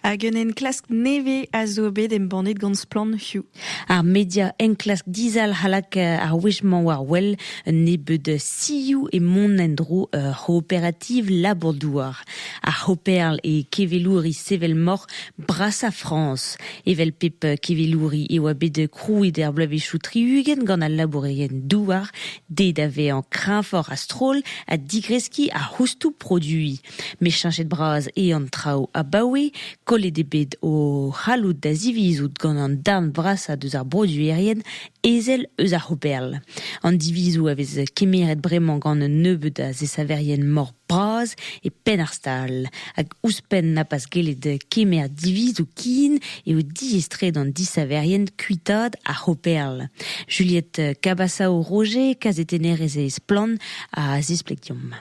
Hag un enklask nevez a zo bet embannet gant Splann Hugh. Ar media enklask dizalc'h alak ar wech-mañ war wel un nebeud sioù e mont en-dro ur c'hooperativ labour-douar. Ar c'hooperl e kevelouri sevel-moc'h brasañ Frañs. Evel pep kevelouri e oa bet krouet er bloavezhioù tri-ugent gant al labourerien-douar dezhe da vezañ kreñvoc'h a-stroll ha digreskiñ ar c'houstoù produiñ. Met cheñchet-bras eo an traoù abaoe. Kollet eo bet o c'halloud da zivizout gant an darn vrasañ deus ar broduerien ezel eus ar C'hooperl. An divizoù a vez kemeret bremañ gant un nebeud a zesaverien mor bras e penn ar stal. Hag ouzhpenn na pas gellet kemer divizoù kin eo diaes-tre d'an disaverien kuitaat ar C'hooperl. Juliette Cabasao-Roger, kazetennerez e Splann, a zispleg deomp.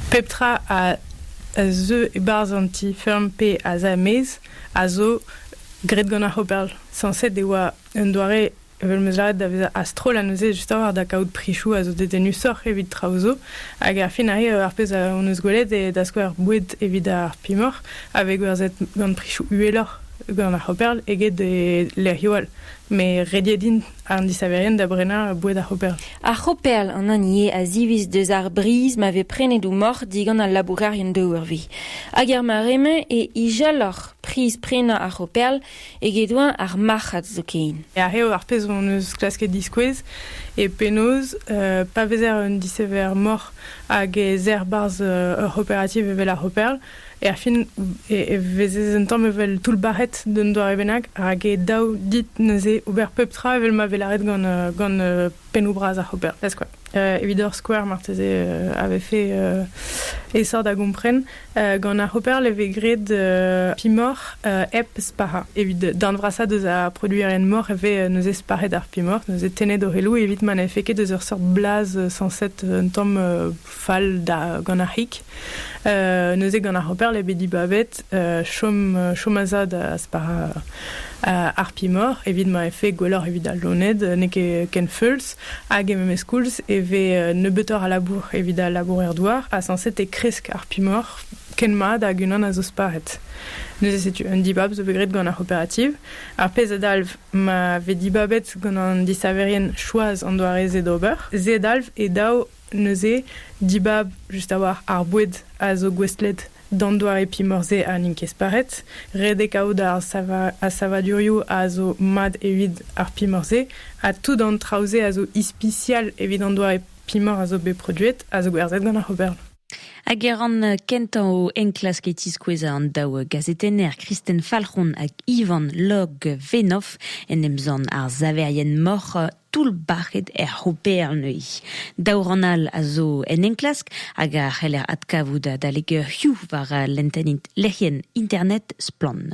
Pep tra a zeu e-barzh an ti-feurm pe asamez a zo graet gant ar c'hooperl. Sañset e oa un doare evel m'eus lâret da vezañ a-stroll neuze justoc'h da kaout prisoù a zo dedennusoc'h evit traoù zo. Hag ar fin arrive ar pezh hon eus gwelet eo da skouer boued evit ar pimoc'h a vez gwerzhet gant prisoù uheloc'h gant ar c'hooperl eget e lec'hioù all. Met rediet int. An disaverien da brenañ boued ar c'hoperl. Ar c'hoperl, an hini eo a ziviz deus ar briz ma vez prenet o moc'h digant al labourerien daouarvi. Hag er mare-mañ e ijalloc'h priz prenañ ar c'hoperl eget-eñ ar marc'had zoken. Aze eo ar pezh hon eus klasket diskouez, e penaos, pa vezer un disaver moc'h hag ez er 'barzh ur c'hooperativ evel ar c'hoperl, Erfin e vezez un tamm evel toullbac'het d'un doare bennak, rak e daou dit neuze ober pep tra evel ma vez lâret gant, euh, gant euh, pennoù-bras ar c'hooper. Ez quoi. Euh, evit ur skouer, marteze, euh, a vefe euh, esor da gompren. Euh, gant ar c'hooper e vez graet euh, pimoc'h euh, hep sparañ. Evit darn vrasañ deus ar produerien moc'h e vez euh, neuze sparet ar pimoc'h, neuze tennet o reloù evit ma n'efe ket eus ur seurt blaz euh, sañset un tamm euh, fall da gant ar c'hig. Euh, neuze gant ar Hopper l'ai bet dibavet euh, chom, euh, chom a za da spara euh, ar pimor evit ma e fe gwelloc'h evit al loned n'e ket ken feuls hag e memes koulz e ve euh, nebeutoc'h a labour evit al labour er douar ha sanset e kresk ar pimor ken mat hag unan a zo sparet. Neuze setu un dibab zo bet graet gant ar operativ. Ar pezh a dalv ma ve dibabet gant an disaverien choaz an doare-se d'ober. Se dalv e dav Neuze, dibab just a-walc'h ar boued a zo gouestlet d'an doare pimor-se ha n'int ket sparet. Ret eo kaout ar savadurioù a zo mat evit ar pimor-se ha tout an traoù-se a zo ispisial evit an doare pimor a zo bet produet a zo gwerzhet gant ar C'hobern. Hag e ran kentañ o enklask e tiskoueza an daou gazetenner Kristen Falc'hon hag Ivan Log-Venoff en em zant ar saverien moc'h toull-bac'het er C'hooper neuze. Daou rann all a zo en enklask hag a c'heller adkavout adalek eurioù war lenntenn lec'hienn internet Splann.